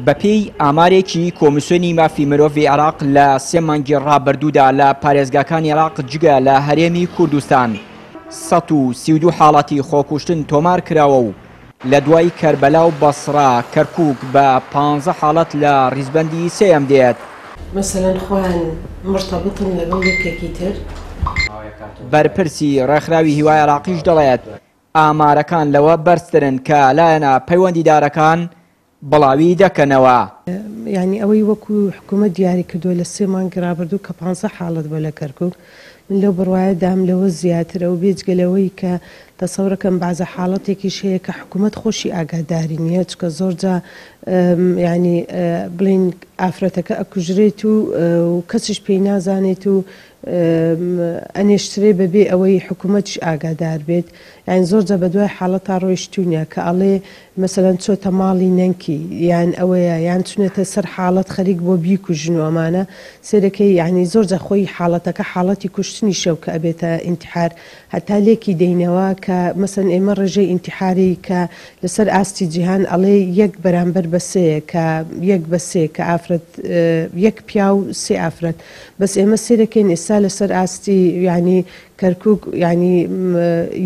بەپێی ئامارێکی کۆمیسیۆنی مافی مرۆڤی عێراق لە سێ مانگی ڕابردوودا لە پارێزگاکانی عێراق جگە لە هەرێمی کوردستان سەد و سی و دوو حاڵەتی خۆکوشتن تۆمار کراوە و لە دوای کەربەلا و بەسڕا کەرکووک بە پانزە حاڵەت لە ڕیزبەندی سێیەم دێت. مەسەلەن خۆیان مرتەبتن لەگەڵ یەکێکی تر. بەرپرسی ڕێکخراوی هیوا عێراقیش دەڵێت، ئامارەکان لەوە بەرزترن کە لایەنە پەیوەندیدارەکان بڵاوی دەکەنەوە. یانی ئەوەی وەکو حکومەت دیاری کردووە لە سێ مانگی رابردوو کە پانزە حاڵەت بووە لە کەرکوک، من لەو بڕوایەدام لەوە زیاترە و بێجگە لەوەی کە تەسەورەکەم بەعزە حاڵەتێکیش هەیە کە حکومەت خۆشی ئاگاداری نییە چونکە زۆرجا یانی بڵێین ئافرەتەکە ئەکوژرێت و کەسیش پێی نازانێت و ئەنێشترێ بەبێ ئەوەی حکومەتیش ئاگادار بێت یان زۆر جا بەدوای حاڵەتا ڕۆیشتوونە کە ئەڵێ مەسەلەن چۆتە ماڵی نەنکی یان ئەوەیە یان چونەتە سەر حاڵەت خەریک بۆ بیکوژن و ئەمانە سێرەکەی یانی زۆر جا خۆی حاڵەتەکە حاڵەتی کوشتنیشە و کە ئەبێتە ئینتحار هەتا لێکی دەینەوە کە مەسەن ئێمە ڕێژەی ئینتحاری کە لەسەر ئاستی جیهان ئەڵێ یەک بەرامبەر بە سێیە کە یەک بە سێ کە ئافرەت یەک پیاو سێ ئافرەت بەس ئێمە سێرەکەین ئێستا لەسەر ئاستی یانی کەرکوک یانی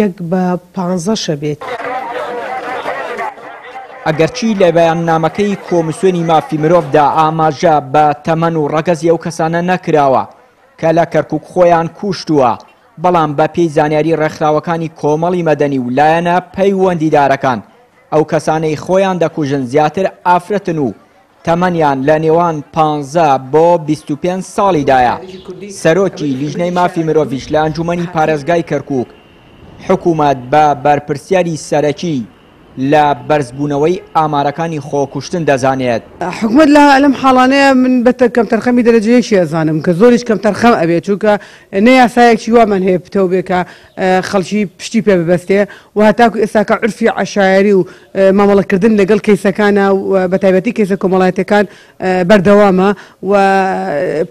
یەک بە پانزەشە بێت. ئەگەرچی لە بەیاننامەکەی کۆمسیۆنی مافی مرۆڤدا ئاماژە بە تەمەن و ڕەگەزی ئەو کەسانە نەکراوە کە لە کەرکوک خۆیان کوشتووە، بەڵام بە پێی زانیاری ڕێکخراوەکانی کۆمەڵی مەدەنی و لایەنە پەیوەندیدارەکان ئەو کەسانەی خۆیان دەکوژن زیاتر ئافرەتن و تەمەنیان لە نێوان پانزە بۆ بیست و پێنج ساڵیدایە، سەرۆکی لیژنەی مافی مرۆڤیش لە ئەنجوومەنی پارێزگای کەرکووک، حکوومەت بە بەرپرسیاری سەرەکی لە بەرزبوونەوەی ئامارەکانی خۆکوشتن دەزانێت. حکومەت لە لەم حاڵانەیە من بە کەمتەرخەمی دەرەجە یەکی ئەزانم کە زۆریش کەمتەرخەم ئەبێت، چونکە نە یاسایەکی وامان هەیە پتەو بێ کە. خەڵکی پشتی پێ ببەستێ و هەتاکو ئێستاکە عورفی عەشایەری و مامەڵە کردن لەگەڵ کەیسەکانە و بە تایبەتی کەیسە کۆمەڵایەتیەکان بەردەوامە و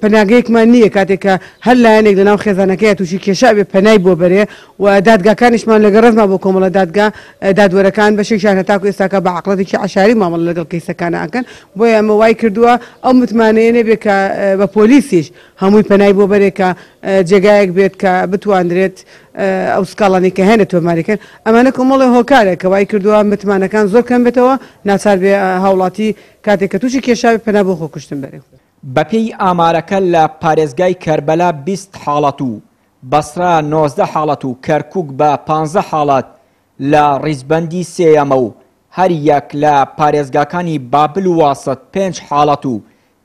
پەناگەیەکمان نییە کاتێک کە هەر لایەنێک لەناو خێزانەکەی تووشی کێشا بێ پەنای بۆ بەرێ و دادگاکانیشمان لە گەڕەزما بۆ کۆمەڵە دادگا دادوەرەکان بەشێکیان هەتاکو ئێستاکە بە عەقڵەتێکی عەشایەری مامەڵە لەگەڵ کەیسەکانە ئەکەن بۆیە ئەمە وای کردووە ئەو متمانەیە نەبێ کە بە پۆلیسیش هەمووی پەنای بۆ بەرێ کە جێگایەک بێت کە بتواندرێت ئەو سکاڵانی کە هەیە تۆماریکەن ئەمانە کۆمەڵی هۆکارێک کە وای کردووە متمانەکان زۆر کەم بێتەوە ناچار بێ هاوڵاتی کاتێک کە تووشی کێشاوی پەنا بۆ خۆکوشتن بەرێ. بەپێی ئامارەکە لە پارێزگای کەربەلا بیست حاڵەت و بەسرا نۆزدە حاڵەت و کەرکووک بە پانزە حاڵەت لە ڕیزبەندی سێیەمە و هەر یەک لە پارێزگاکانی بابل و واسط پێنج حاڵەت و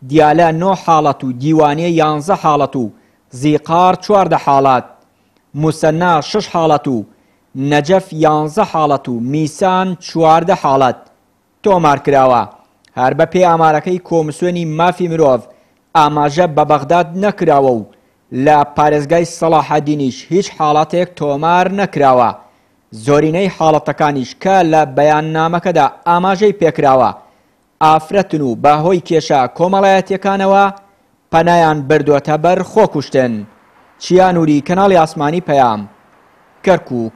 دیالە نۆ حاڵەت و دیوانیە یانزە حاڵەت و زیقار چواردە حاڵەت موسەننا شەش حاڵەت و نەجەف یانزە حاڵەت و میسان چواردە حاڵەت تۆمارکراوە، هەر بەپێی ئامارەکەی کۆمسیۆنی مافی مرۆڤ ئاماژە بە بەغداد نەکراوە و لە پارێزگای سەڵاحەدینیش هیچ حاڵەتێک تۆمار نەکراوە، زۆرینەی حاڵەتەکانیش کە لە بەیاننامەکەدا ئاماژەی پێکراوە ئافرەتن و بە هۆی کێشە کۆمەڵایەتیەکانەوە پەنایان بردۆتە بەر خۆکوشتن. چیا نوری، کەناڵی ئاسمانی پەیام، کەرکوک.